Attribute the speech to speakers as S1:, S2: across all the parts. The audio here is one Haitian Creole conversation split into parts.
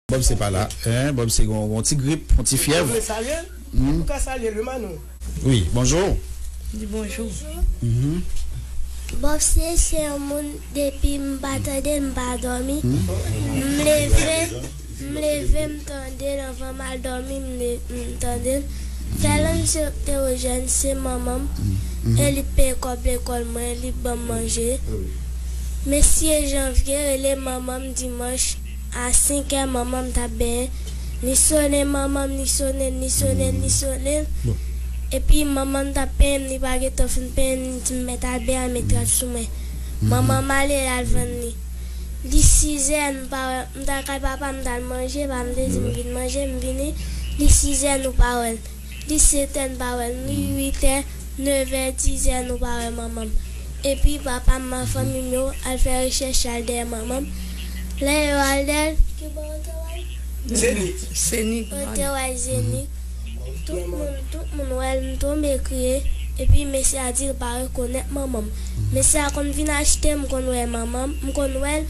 S1: Bob se pala hein bob se gon gon ti grip yon ti fyèv. Mwen salye l epi ou ka salye l wi Manou. Wi bonjour. Di bonjour.
S2: Bob se se yon moun depi m pa tande l m pa domi m leve m leve m tande l anvan m al domi m tande l fè lè m se oktewojèn se manman m e li k peye kòb lekòl mwen li k banm manje mesye janvye rele manman m dimanch. A senkè manman m t ap benyen, li sone manman m, li sone l, li sone l, li sone l, epi manman m t ap penyen m, li pa gen tan fin penyen m, li di m mèt Albè a met rad sou mwen. Manman m ale, l al vann li. Li sizè, m pa wè l, m t al kay papa m, m t al manje, papa m te di m vin manje, m vini, li sizè nou pa wè l. Li setè n pa wè l, li uitè, nevè, dizè nou pa wè manman m. Epi papa m ak fanmi m yo al fè rechèch y al dèyè manman m. Lè yo al dèyè l, ki bò yo te wè l? Zenith.
S3: Yo te wè l
S2: Zenith. Tout moun, tout moun wè l, m tonbe kriye. Epi mesye a di l pa rekonèt manman m. Mesye a konn vin achte, m konn wè manman m, m konn wè l.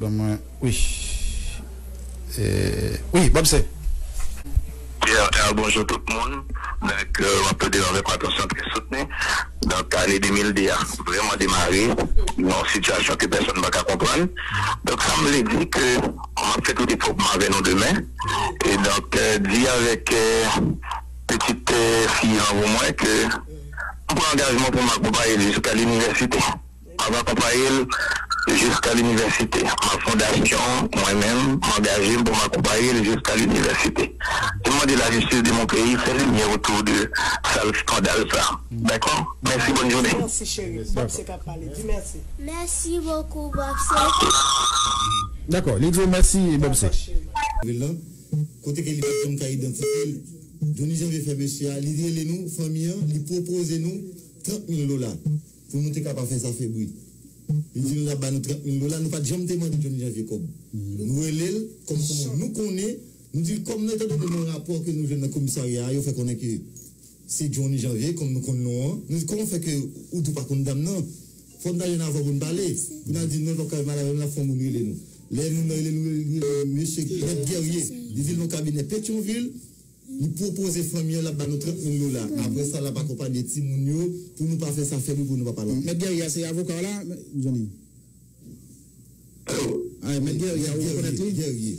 S1: Ban mwen wi wi banm se. TRR Bonjou
S4: tout moun, donk wap tande yo avèk atansyon trè soutni, donk ane 2002 a vrèman demare nan yon sitiyasyon ke pèsòn pa ka konprann, donk sa m vle di ke map fè tout efò pou m avè nou demen, e donk di avèk pitit fi anvo mwen ke m pran angajman pou m akonpaye l jiska linivèsite. M ap akonpaye l jiska linivèsite. M ap fondasyon mwen menm, m angaje m pou m akonpaye l jiska linivèsite. M mande lajistis de mon peyi fè limyè otou de sal skandal sa. Dakò. Mèsi bòn jounen. Merci chéri pou Bobse
S5: kap pale di merci. Merci beaucoup
S2: Bobse.
S1: Dakò li di w mèsi Bobse. Rele lan
S6: Kote ke li pat janm ka idantifye l Johnny Janvier fè mesye a li rele nou fanmi an li pwopoze nou 30 mil dola. Pou nou te ka pa fè sa fè bri. Li di nou l ap ba nou 30 mil dola, nou pa t janm te mande Johny Janvier kòb. Nou rele l kòm kòman nou konnen, nou di l kòm nan, etandone nan rapò ke nou jwenn nan komisarya a, yo fè konnen ke se Johny Janvier, kòm nou konn non an. Nou di, kòman fè ke ou di w pa konn dam nan? Fò n ta jwenn avwa pou n pale. Pou n al di non, l pa p ka vin pale avè m, l ap fè yon moun rele nou. Lè moun nan rele l, li rele l, li rele l, li rele l, mesye Mèt Guerrier. Li di l nan kabinè Petyonvil. Li pwopoze fanmi an l ap ba nou 30 mil dola. Apre sa, l ap akonpanye timoun yo pou nou pa fè sa fèt wi pou nou pa pa la. Mèt Guerrier a se avoka w la,
S1: zanmi?
S6: Alo! Mèt Guerrier a, ou rekonnèt li? Guerrier.